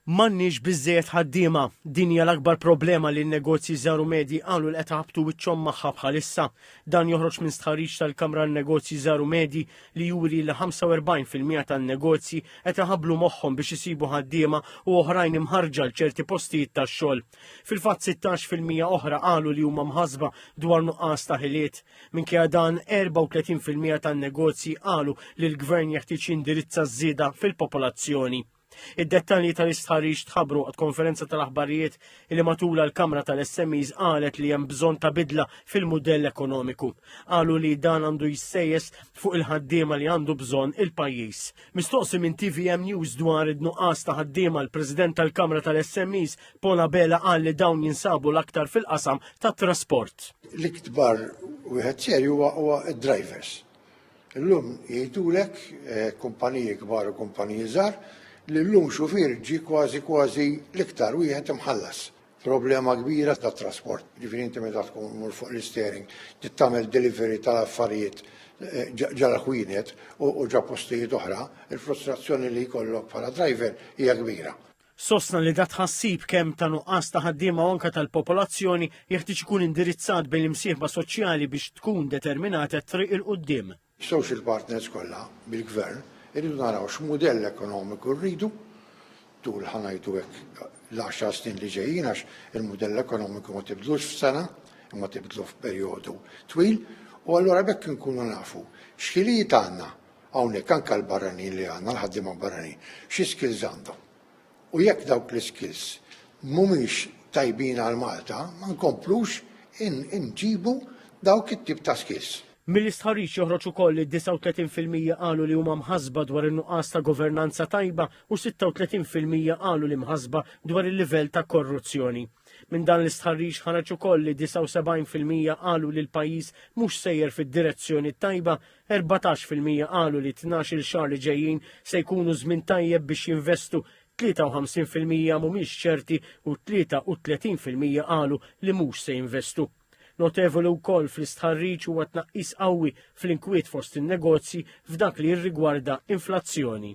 M'għandniex biżżejjed ħaddiema. Din hija l-akbar problema li n-negozji żgħar u medji qalu li qed iħabbtu wiċċhom magħha bħalissa. Dan joħroġ minn stħarriġ tal-Kamra għan-Negozji Żgħar u Medji li juri li 45 fil-mija tan-negozji qed iħabblu moħħhom biex isibu ħaddiema u oħrajn imħarrġa għal ċerti postijiet tax-xogħol. Fil-fatt 16 fil-mija oħra qalu li huma mħassba dwar nuqqas ta' ħiliet. Minkejja dan, 34 fil-mija tan-negozji qalu li l-Gvern jeħtieġ jindirizza ż-żieda fil-popolazzjoni. Id-dettalji tal-istħarriġ tħabbru għad konferenza tal-aħbarijiet li matula l-Kamra tal-SMEs qalet li hemm bżonn ta' bidla fil-mudell ekonomiku. Qalu li dan għandu jissejjes fuq il-ħaddiema li għandu bżonn il-pajjiż. Mistoqsi minn TVM News dwar id-nuqqas ta' ħaddiema l-President tal-Kamra tal-SMEs Paul Abela qal li dawn jinsabu l-aktar fil-qasam tat-trasport. L-ikbar wieħed serju huwa d-drivers. Illum jgħidulek eh, kumpaniji kbar u kumpaniji żgħar li llum xufier ġi kważi kważi l-iktar wieħed imħallas. Problema kbira ta' trasport, ġifieri inti meta tkun mur fuq l-istering, tagħmel delivery tal-affarijiet eh, ġara ħwienet u ġa postijiet oħra, il-frustrazzjoni li jkollok bħala driver hija kbira. Sostna li dat-tħassib kemm ta' nuqqas ta' ħaddiema u anke tal-popolazzjoni jeħtieġ ikun indirizzat bejn l-imsieħba soċjali biex tkun determinata t-triq 'il quddiem. Is-social partners kollha bil-Gvern irridu naraw x'mudell ekonomiku rridu tul ħa ngħidu hekk l-għaxar snin li ġejjin għax il-mudell ekonomiku ma tibdlux f'sena imma tibdlu f'perjodu twil u allura b'hekk inkunu nafu x'ħiliet għandna Hawnhekk anke għall-barranin li għandna, l-ħaddiema barranin, xi skills għandhom. U jekk dawk l-iskills mhumiex tajbin għal Malta, ma nkomplux inġibu dawk it-tip ta' skills. Mill-istħarriġ joħroġ ukoll li 39 fil-mija qalu li huma mħassba dwar in-nuqqas ta' governanza tajba u 36 fil-mija qalu li mħassba dwar il-livell ta' korruzzjoni. Minn dan l-istħarriġ ħareġ ukoll li 79 fil-mija qalu li l-pajjiż mhux sejjer fid-direzzjoni t-tajba 14 fil-mija qalu li tnax-il xahar li ġejjin se jkunu żmien tajjeb biex jinvestu, 53 fil-mija mhumiex ċerti u 33 fil-mija qalu li mhux se jinvestu. Notevoli wkoll fl-istħarriġ huwa tnaqqis qawwi fl-inkwiet fost in-negozji f'dak li jirrigwarda inflazzjoni.